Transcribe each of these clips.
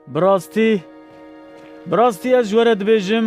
Bi rastî, bi rastî ez ji we re dibêjim,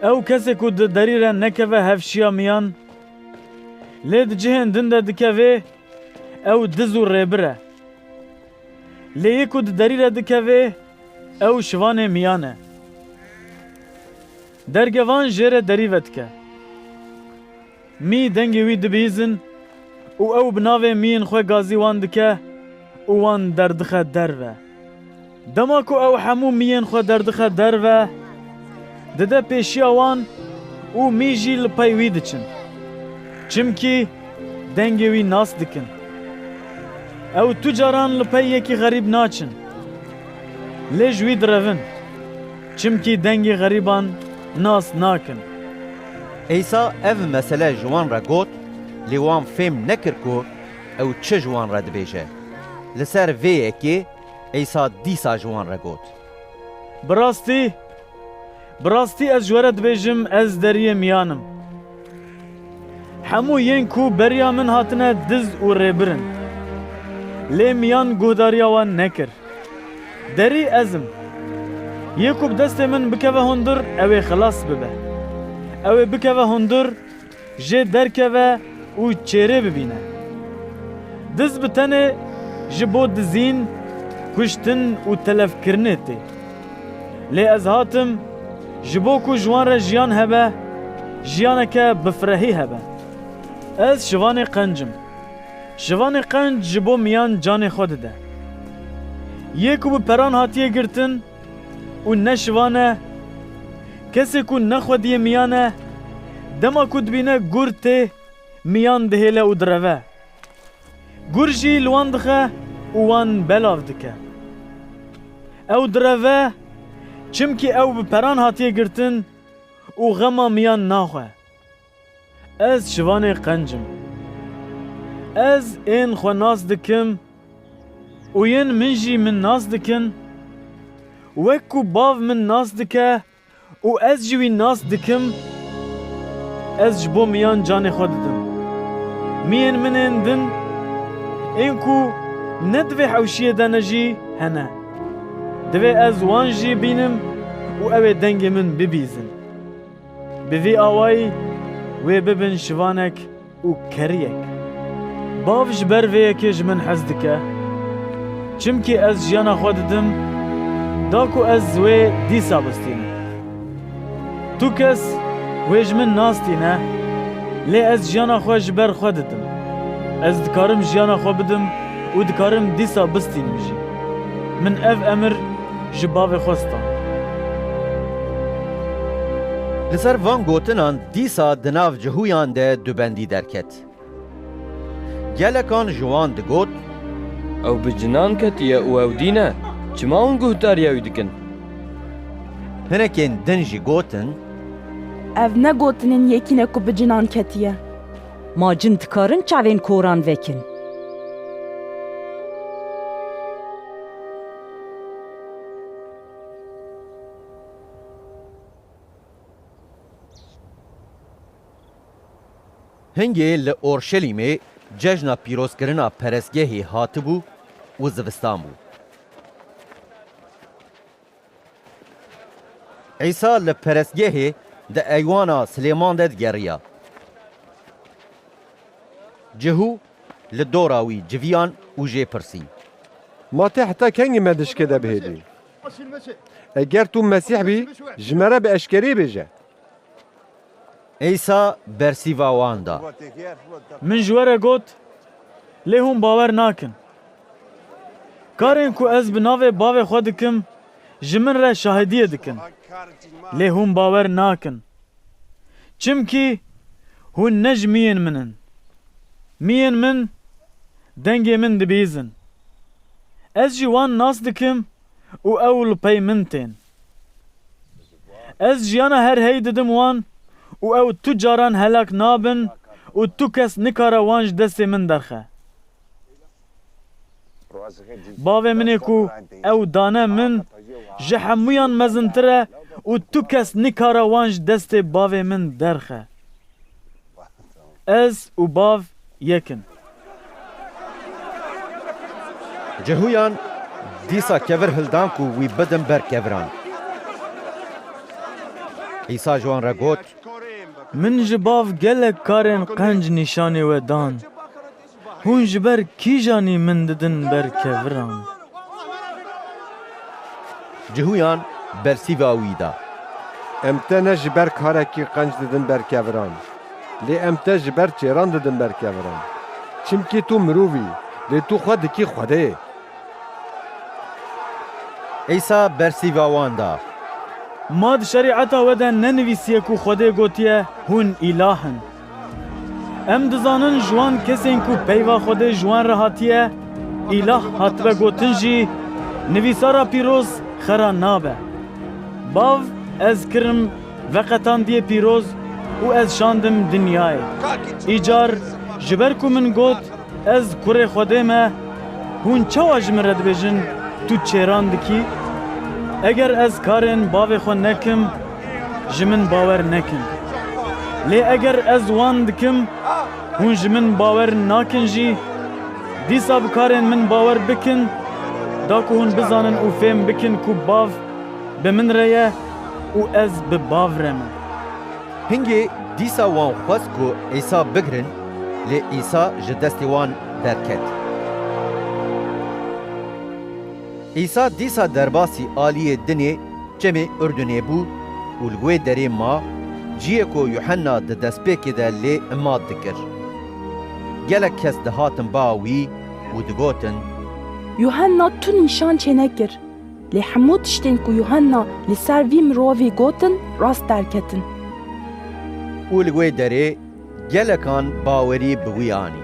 ew kesê ku di derî re nekeve hev şiya miyan, lê di cihên din de dikevê, ew diz û rêbir e. Lê yê ku di derî re dikevê, ew şivanê miyan e. Derge van jê re derî vedike. Mî dengê wî dibihîzin û ew bi navê mîyên xwe gazî wan dike û wan derdixe derve. Dema ku ew hemû mîyên xwe derdixe derve, dide pêşiya wan û mî jî li pey wî diçin. Çimkî dengê wî nas dikin. Ew tu caran li pey yekî xerîb naçin. Lê ji wî direvin. Çimkî dengê xerîban nas nakin. Îsa ev mesele ji wan re got, lê wan fêm nekir ku ew çi ji wan re dibêje. Li ser vê yekê Îsa dîsa ji wan re got. Bi rastî, bi rastî ez ji we re dibêjim, ez Deriyê Miyan im. Hemû yên ku beriya min hatine diz û rêbir in. Lê miyan guhdariya wan nekir. Derî ez im. Yê ku bi destê min bikeve hundir ew ê xilas bibe. Ew ê bikeve hundir jê derkeve û çêrê bibîne. Diz bi tenê ji bo dizîn, kuştin û telefkirinê tê. Lê ez hatim ji bo ku ji wan re jiyan hebe, jiyaneke bifirehî hebe. Ez şivanê qencim. Şivanê qenc ji bo miyan canê xwe dide. Yê ku bi peran hatiye girtin û ne şivan e, kesê ku nexwediye miyan e, dema ku dibîne gur tê, miyan dihêle û direve. Gur jî li wan dixe û wan belav dike. Ew direve, çimkî ew bi peran hatiye girtin û xema miyan naxwe. Ez şivanê qenc im. Ez ên xwe nas dikim û yên min jî min nas dikin. Wek ku Bav min nas dike û ez jî wî nas dikim, ez ji bo miyan canê xwe didim. Miyên min ên din, ên ku ne di vê hewşiyê de ne jî, hene. Divê ez wan jî bînim û ew ê dengê min bibîzin. Bi vî awayî wê bibin şivanek û keriyek. Bav ji ber vê yekê ji min hez dike. Çimkî ez jiyana xwe didim da ku ez wê dîsa bistînim. Tu kes wê ji min nas tîne, lê ez jiyana xwe ji ber xwe didim. Ez dikarim jiyana xwe bidim û dikarim dîsa bistînim jî. Min ev emir Ji bavê xwe stand. Li ser van gotinan dîsa di nav cihûyan de du bendî derket. Gelekan ji wan digot. Ew bi cinan ketiye û ew dîn e, çima hûn guhdariya wî dikin? Hinekên din jî gotin. Ev ne gotinên yekîn e ku bi cinan ketiye. Ma cin dikarin çavên koran vekin. Hingê li Orşelîmê cejna pîrozkirina perestgehê hatibû û zivistan bû. Îsa li perestgehê di eywana Silêman de digeriya. Cihû Li dora wî civiyan û jê pirsî. Ma tê heta kengî me di şikê de bihêlî? Eger tu Mesîh bî, ji me re bi eşkereyê bêje. Îsa bersîva wan da. Min ji we re got, lê hûn bawer nakin. Karên ku ez bi navê Bavê xwe dikim, ji min re şahidiyê dikin, lê hûn bawer nakin. Çimkî hûn ne ji miyên min in. Miyên min dengê min dibîzin. Ez jî wan nas dikim û ew li pey min tên. Ez jiyana her hey didim wan û ew tu caran helak nabin û tu kes nikare wan ji destê min derxe. Bavê min ê ku ew dane min ji hemûyan mezintir e û tu kes nikare wan ji destê bavê min derxe. Ez û bav yek in. Cihûyan dîsa kevir hildan ku wî bidin ber keviran. Îsa ji wan re got. Min ji bav gelek karên qenc nîşanê we dan. Hûn ji ber kîjanî min didin ber keviran? Cihûyan bersîva wî da. Em te ne ji ber karekî qenc didin ber keviran. Lê em te ji ber çêran didin ber keviran. Çimkî tu mirov î, lê tu xwe dikî xwedê. Îsa bersîva wan da. Ma di şerîeta we de nenivîsiye ku xwedê gotiye, Hûn îlah in. Em dizanin ji wan kesên ku peyva Xwedê ji wan re hatiye, îlah hatibe gotin jî nivîsara pîroz xera nabe. Bav ez kirim veqetandiyê pîroz û ez şandim dinyayê. Îcar ji ber ku min got ez kurê Xwedê me, hûn çawa ji min re dibêjin tu çêran dikî? Eger ez karên bavê xwe nekim, ji min bawer nekin. Lê eger ez wan dikim, hûn ji min bawer nakin jî, dîsa bi karên min bawer bikin, da ku hûn bizanin û fêm bikin ku Bav bi min re ye û ez bi Bav re me. Hingê dîsa wan xwest ku Îsa bigirin, lê Îsa ji destê wan derket. Îsa dîsa derbasî aliyê dinê çemê Urdunê bû û li wê derê ma, ciyê ku Yuhenna di destpêkê de lê imat dikir. Gelek kes dihatin ba wî û digotin. Yuhenna tu nîşan çênekir, lê hemû tiştên ku Yuhenna li ser vî mirovî gotin rast derketin. Û li wê derê Gelekan bawerî bi wî anî.